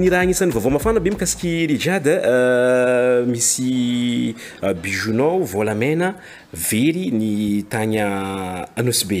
ny raha agnisan'ny vaovao mafana be mikasiky rijade euh, misy euh, bijounao volamena very ny tagny anosy be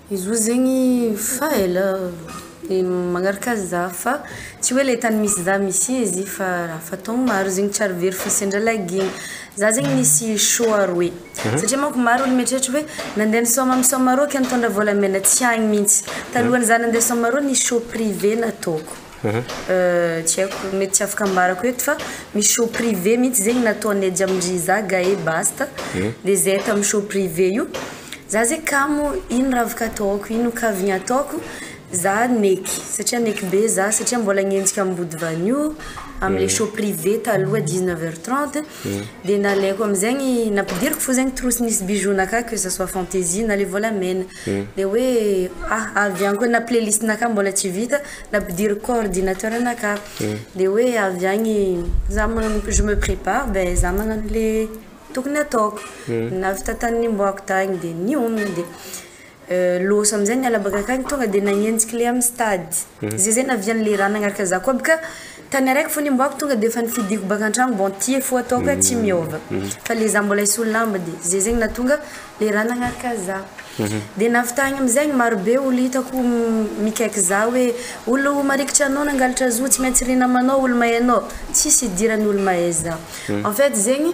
Izy roa zegny fa ela de magnaraka za fa tsy hoe le tany misy za misy izy fa raha fa taogno maro zegny tsy ary very fa sendra lagiagny za zegny misy choix roe satria manko maro olo mieritreritra hoe nande nisôma am sôma rô ke nitondra vôlamena tsy agny mintsy talohan'ny za nande sôma rô nisy choix privé nataoko. tsy haiko mety tsy afaka ambarako eto fa misy show privé mihitsy zegny nataon'ny ejy amin dry za gae basta de zay tamin'ny show privé io za zegny kamo ino raha afaka ataoko ino kaviny ataoko za neky satria neky be za satria mbola agnenjika am body vanio amle show privé taloha dix neuf heure trente de nalaiko amizegny nampidiriko fo zegny trousse nisy bijoux-na akao que ça soit fantaisie na le volamena Dia hoe ah avy any koa na playlist na ka mbola tsy vita na ampidiriko ko ordinateur na ka dia hoe avy any za magnano je me prépare dia za magnano le tokony ataoko na avy tantany nimboako tany dia nihominy dia loso amizay ny ala baka akany tonga dia nagnenjika le amin'ny stade zay zay naviany le raha nagnaraka za koa aby ka Tany araiky fona i Mboako tonga de efa nifidiko baka antragno bon tie fo ataoko eh tsy miova fa le za mbola hisolo lamba de ze zegny natonga le ra nagnaraka za de navitagny amizegny maro be olo hitako mikaiky za hoe olo marikitry anao nangalatra zo tsy maintsy ry namanao olo mahay anao tsisy idirany olo mahay za en fait zegny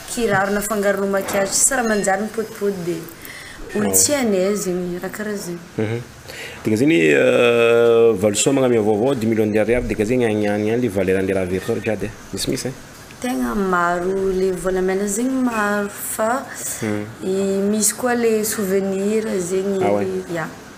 Kiraro nafangaronao maquillage tsy raha manjary ny potipoty dia olo tsy à l'aise zegny raha karaha zegny. Dikan'izegny hoe valisoa magnamia vaovao dimy millions d'ariary dikan'izegny agny agny agny le valeur an'le raha averin-tsao rehetra jiaby e, misimisy e. Tegna maro le volamena zegny maro fa misy koa le souvenir zegny, ya.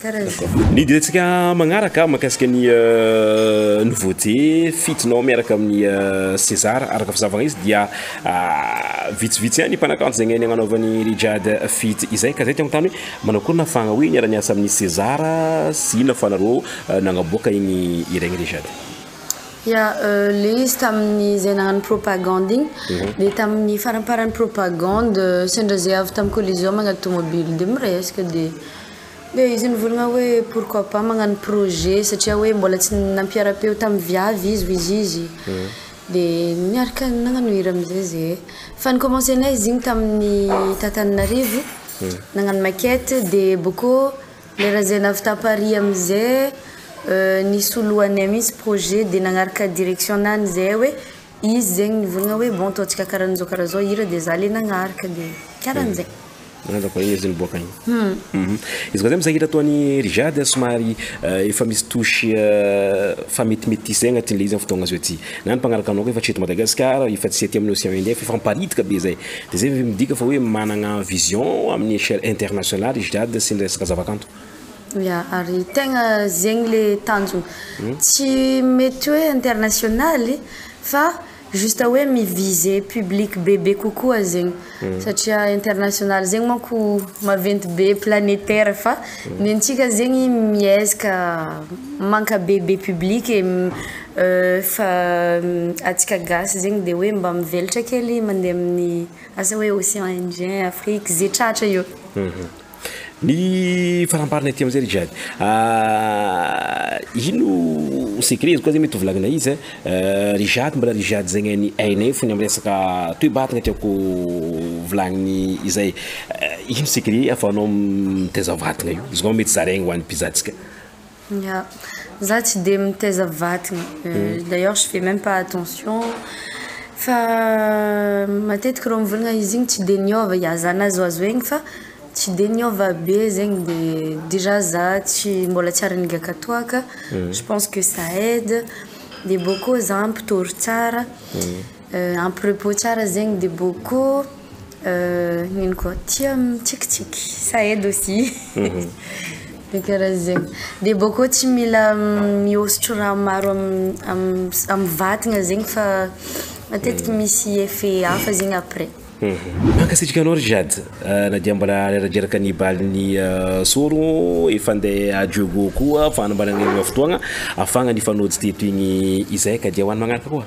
Ny diantsika magnaraka mahakasika ny euh, nouveauté fidinao miaraka amin'ny euh, César araka fizavana izy dia euh, vitsivitsy ihany mpanakanto izay ngainy agnanaovan'ny Rijad fit izay ka zay tiako tany hoe manao akory na fagna hoe niara-niasa amin'ny César sy inona fa nareo nagnaboaka igny ireny Rijad. Ya, le izy tamin'ny izay nagnano propagande igny, dia tamin'ny faramparan'ny propagande sendra zay avy tamin'ny collision magnady tomobily dia miresaka dia dia izy nivolagna hoe pourquoi pas magnano projet satria hoe mbola tsy nampiara-peo tamin'ny viavy izy hoy izy izy, dia niaraka nagnano hira amizay zey, fa ni commencer nay izy igny tamin'ny tata Ananarivo nagnano maquette dia bokeo Le raha zay navita Paris amizay euh nisy ho lohanay mintsy projet de nagnaraka direction nany zay hoe izy zegny nivolagna hoe bon ataontsika karanzao karanzao hira de za le nagnaraka de karanzay. Malaza koa izy niboaka igny. Humm izy koa zay mizay hira ataony Rija dia somary efa misy touche fa metimety zay agnatin'le izy am fotoagna zao ty na ny mpagnaraka anao koa efa tsy eto Madagasikara efa tsy aty amin'ny Océan Indien f'efa miparitaka be zay. Dia izay ve midika fa hoe managna vision amin'ny échelle internationale i Jade sy ny resaka zavakanto? Ya, ary tegna zegny le tanjona. Tsy mety hoe internationaly fa juste hoe mi-viser public bebe kokoa zegny. Satria internationaly zegny manko maventy be planétaire fa ny antsika zegny miezaka mankabebe public e, Fa atsika gasy zegny de hoe mba mivelatra kely mandeha amin'ny asa hoe ocean indien, afrique, ze tratra eo. Ny faramparany aty amizay ry Jade ino secret izy koa zay mety ho volagnina izy ry Jade mbala ry Jade zegny an'i ainay fony am resaka toe-batagna tiako volagniny izay ino secret afahanao mitaiza vatagna io izy koa mety zaraigny hoan'ny mpizahantsika. Ya, za tsy dia mitaiza vatana, d'ailleurs je fais meme pas attention, fa matetika reo mivolagna izy igny tsy dia niova, ya za nazoazo aigny fa tsy dia niova be zegny de déjà za tsy mbola tsy ary nigaka toaka, je pense que ça aide, de bôkô za mpitôro tsara. Ampy repos tsara zegny de boko ino koa tia mitsikitsiky ça aide aussi de karaha zegny de boko tsy mila mihosotro raha maro am vatagna zegny fa matetiky misy effet hafa zegny après. Mankasitraka anao ry Jade ah, na dia mbola reradreraka ny balin'ny ah, soro efa andeha à Dieugo koa fanambarana ny fotoagna afahagna nifanojo teto igny izay ka dia ho any magnaraka koa.